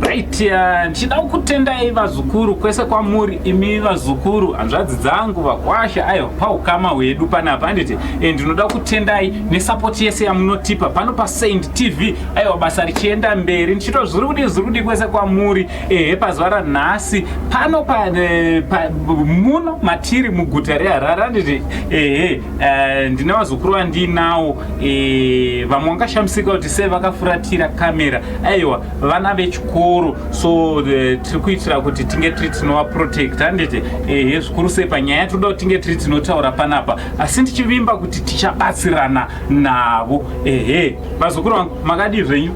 Right, uh, ndichida kukutendai vazukuru kwese kwamuri imi vazukuru hanzvadzi dzangu vakwasha ayo paukama hwedu panapa anditi and eh, ndinoda kutendai nesapoti yese yamunotipa pano pasaint tv aiwa basa richienda mberi ndichito zvirudi zvirudi kwese kwamuri ehe pazuva ranhasi pano pa, eh, pa, muno matiri muguta reharare anditi ehe Eh, ndine vazukuru vandinawo eh, vamwe vangashamisika kuti sei vakafuratira kamera aiwa vana vechikoro so eh, tiri kuitira kuti tinge tiri tinovaprotect handiti ehe zvikuru sei panyaya tinoda kuti tinge tiri tinotaura panapa asi ndichivimba kuti tichabatsirana navo ehe vazukuru vangu makadii zvenyu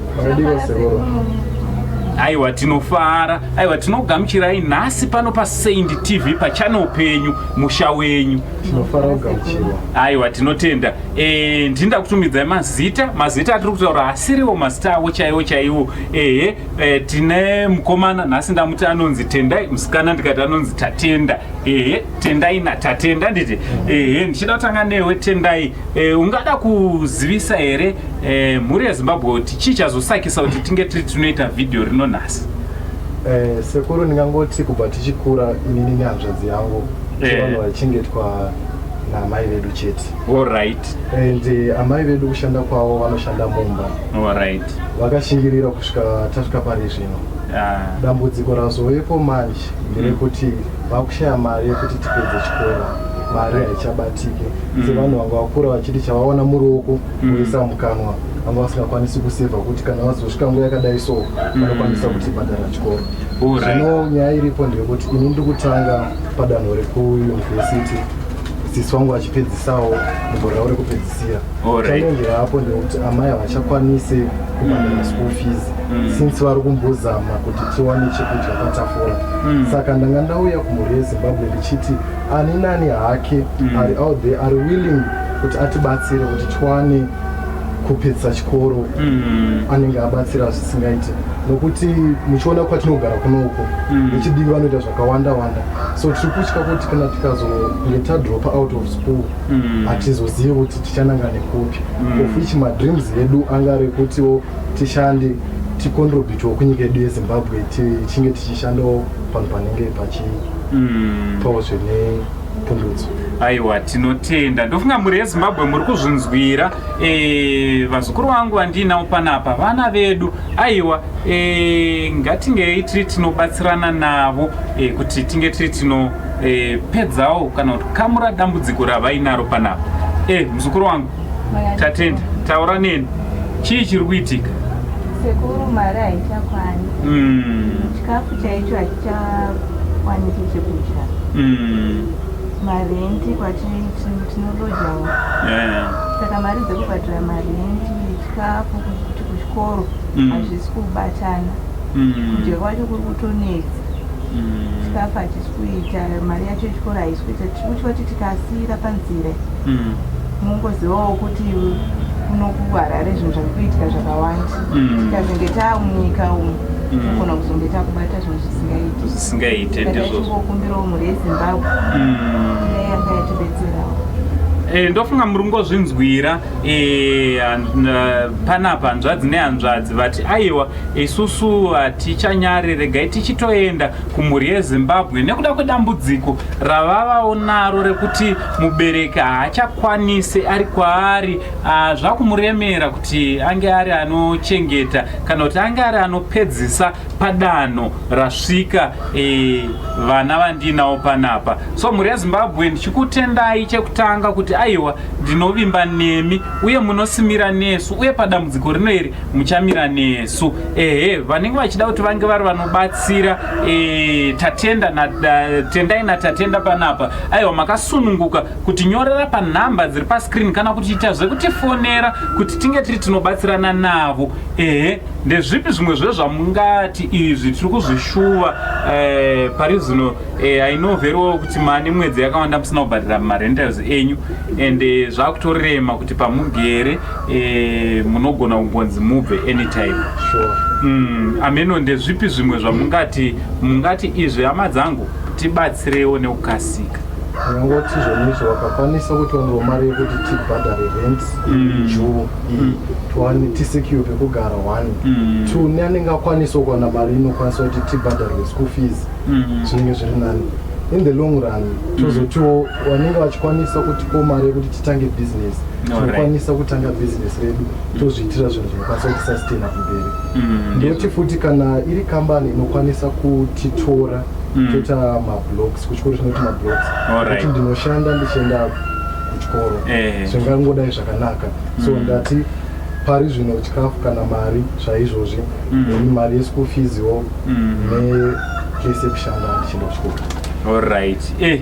aiwa tinofara aiwa tinogamuchirai nhasi pano pasaint tv pachannel penyu musha wenyu tinofara kugamuchirwa aiwa tinotenda eh, ndinda kutumidzai mazita mazita atiri kutaura asiriwo mazita avo chaiwo chaiwo ehe e, tine mukomana nhasi ndamuti anonzi tendai musikana ndikati anonzi tatenda ehe tendai natatenda nditi ehe ndichida kutanga newe tendai e, ungada kuzivisa here e, mhuri yezimbabwe kuti chii chazosakisa kuti tinge tiri tinoita vhidhiyo rino nhasi Eh, sekuru ndingangoti kubva tichikura inini nehanzvadzi yangu vanhu vaichengetwa naamai vedu chete alright and eh, amai vedu kushanda kwavo vanoshanda mumba alright vakashingirira kusvika tasvika pari zvino ah. dambudziko razovepo manje nderekuti mm. vakushaya mari yekuti tipedze chikoro mari haichabatike mm. sevanhu vanga vakura vachiti chavaona muruoko mm. voisa mm. mukanwa vanga vasingakwanisi kusevha kuti kana vazosvika nguva yakadai so mm. vanokwanisa mm. kutibhadhara chikoro zvino nyaya iripo ndeyekuti ini ndikutanga padanho rekuyunivhesiti sisi wangu achipedzisawo mugore ravo rekupedzisira chanenge hapo ndekuti amai havachakwanise kubhadhara mm. school fees mm. since vari kumbozama kuti tiwane chekudya patafura mm. saka ndanga ndauya kumhuri yezimbabwe ndichiti ani nani hake ari out there ari willing kuti atibatsire kuti tiwane kupedza chikoro mm. anenge abatsira zvisingaite nokuti muchiona kwatinogara kuno uko mm. vechidivi vanoita zvakawanda wanda so tiri kutya kuti kana tikazonge tadropa out of school mm. hatizozivi mm. kuti tichananga nekupi mm. of which madreams edu anga rekutiwo tishande ticontributiwo kunyika yedu yezimbabwe tichinge tichishandawo panhu panenge pachipawo mm. zvine aiwa tinotenda ndofunga mhuri yezimbabwe muri kuzvinzwira e, vazukuru vangu vandiinawo panapa vana vedu aiwa e, ngatingei tiri tinobatsirana navo e, kuti tinge tiri tinopedzawo e, kana kuti kamura dambudziko ravainaro panapa e, muzukuru wangu Tatenda, taura neni. Chii chiri kuitika? Sekuru mari haichakwani. Mm. Chikafu chaicho hachichakwanisi chekudya. Mm. Marenti kwatiri tinolojawo. Yeah. Saka mari dzekubhadhara marenti, chikafu kuti kuchikoro mm. hazvisi mm. kubatana. Mm. Kudya kwacho kuri kutonetsa. Mm. Chikafu hachisi kuita, mari yacho yechikoro haisi kuita. Tiri kutya kuti tikasiira panzira. mm. mungozivawo kuti kuno kuharare zvinhu zvave kuitika zvakawanda mm. tikazenge taamunyika umu tinogona mm. kuzonge takubata zvinhu zvisingaiti zvisingaite ndizvokumbirawo mhuri yezimbabwe dai yanga yatibetserawo Eh, ndofunga muri ngozvinzwira eh, panapa hanzvadzi nehanzvadzi vati aiwa isusu hatichanyare regai tichitoenda kumhuri yezimbabwe nekuda kwedambudziko ravavawo naro rekuti mubereki haachakwanise ari kwaari ah, zvakumuremera kuti ange ari anochengeta kana kuti ange ari anopedzisa padanho rasvika eh, vana e, vandiinawo panapa so mhuri yezimbabwe ndichikutendai chekutanga kuti aiwa ndinovimba nemi uye munosimira nesu uye padambudziko rino iri muchamira nesu ehe vanenge vachida kuti vange vari vanobatsira E, tatenda na, da, tendai natatenda panapa aiwa makasununguka kutinyorera panhamba dziri pascreen kana kutiita zvekutifonera kuti tinge tiri tinobatsirana navo ehe ndezvipi zvimwe zvezvamungati izvi tiri kuzvishuva e, pari zvino e, i know very well kuti mane mwedzi yakawanda musina kubhadhira marentals enyu and e, zvakutorema kuti pamugere eh, munogona kugonzi mubve anytime sure. mm, ameno ndezvipi zvimwe zvamungati mungati izvi hama dzangu tibatsirewo nekukasika ndingoti zvonizvo vakakwanisa kuti vanovo mari yekuti tibhadhare rent mm. juu mm. tiwane tisecure pekugara one mm. two ne anenge akwanisawo kuwana mari inokwanisa kuti tibhadharwe school fees zvinenge zviri nani in the long run tozotiwo vanenge vachikwanisa kutipo mari yekuti titange business tinokwanisa kutanga business redu tozviitira zvinhu zvinokwanisa kutisastaina kumberi mm, ndoti futi kana iri kambani inokwanisa kutitora mm. toita mablocks kuchikoro chinoti mablocks kuti ndinoshanda ndichienda kuchikoro eh. zvingangodai zvakanaka so mm. ndati pari zvino chikafu kana mari zvaizvozvi nemi mari yeschool fees wo nekese kushanda ndichienda kuchikoro allright eh.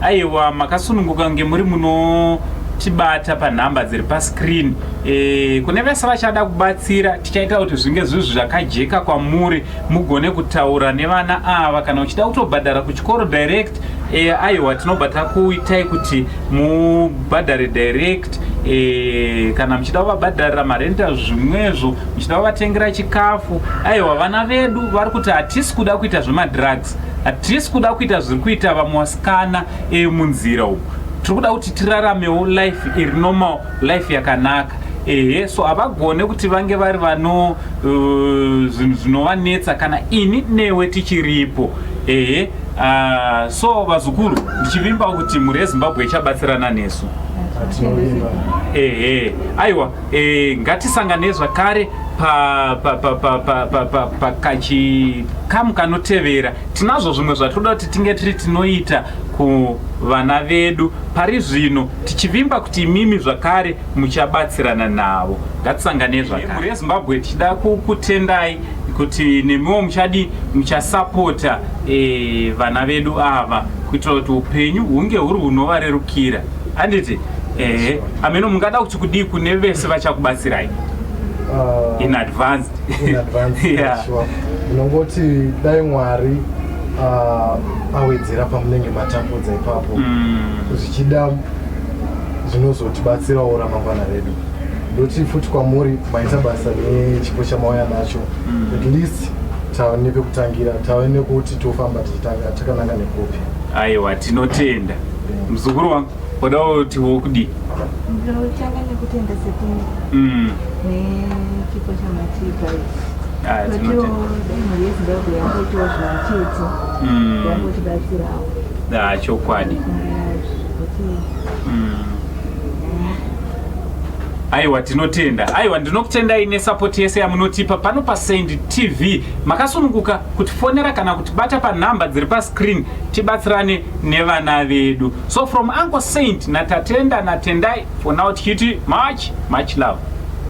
Aiwa makasununguka kunge muri munotibata panhamba dziri pascreen e, kune vese vachada kubatsira tichaita kuti zvinge zvinhu zvakajeka kwamuri mugone kutaura nevana ava kana uchida kutobhadhara kuchikoro direct e, aiwa tinobva takuitai kuti mubhadhare direct e, kana muchida kuvabhadharira marenta zvimwezvo muchida kuvatengera chikafu aiwa vana vedu vari kuti hatisi kuda kuita zvemadrugs Hatisi kuda kuita zviri kuita vamwe wasikana emunzira umu. Tiri kuda kuti tiraramewo life iri normal, life yakanaka. Ehe, so havagone kuti vange vari vano uh, zvinhu uh, zvinovanetsa kana ini newe tichiripo. Ehe, uh, so vazukuru ndichivimba kuti mhuri yeZimbabwe ichabatsirana nesu. Ehe, aiwa. E, ngatisanganei zvakare pakachikamu kanotevera tinazvo zvimwe zvatoda kuti tinge tiri tinoita kuvana vedu pari zvino tichivimba kuti imimi zvakare muchabatsirana navo ngatisanganei zvakare rezimbabwe tichida kukutendai kuti nemiwo muchadi muchasapota e, vana vedu ava kuitira kuti upenyu hunge huri hunovarerukira handiti ehe ameno mungada kuti kudii kune vese vachakubatsirai uh, in advanced in advanced yeah. sure unongoti dai mwari uh, awedzera pamunenge matambudza ipapo mm. zvichida zvinozotibatsirawo ramangwana redu ndoti futi kwamuri maita basa nechipo chamauya nacho mm. at least tave nepekutangira tave nekuti tofamba tichitanga takananga nekupi aiwa tinotenda muzukuru wangu Kuda kuti wokudi. Ndotanga nekutenda sekuru. Mm. Nechipo chamatipa ichi. Ah, Matiwo dai mhuri yeZimbabwe yangoitawo zvimachedzo. Mm. Yangotibatsirawo. Ah, chokwadi. Mm. aiwa tinotenda aiwa ndinokutendai nesapoti yese yamunotipa pano pasend tv makasununguka kutifonera kana kutibata panhamba dziri pascreen tibatsirane nevana vedu So from Uncle Saint na Tatenda na Tendai for now tichiti much much love.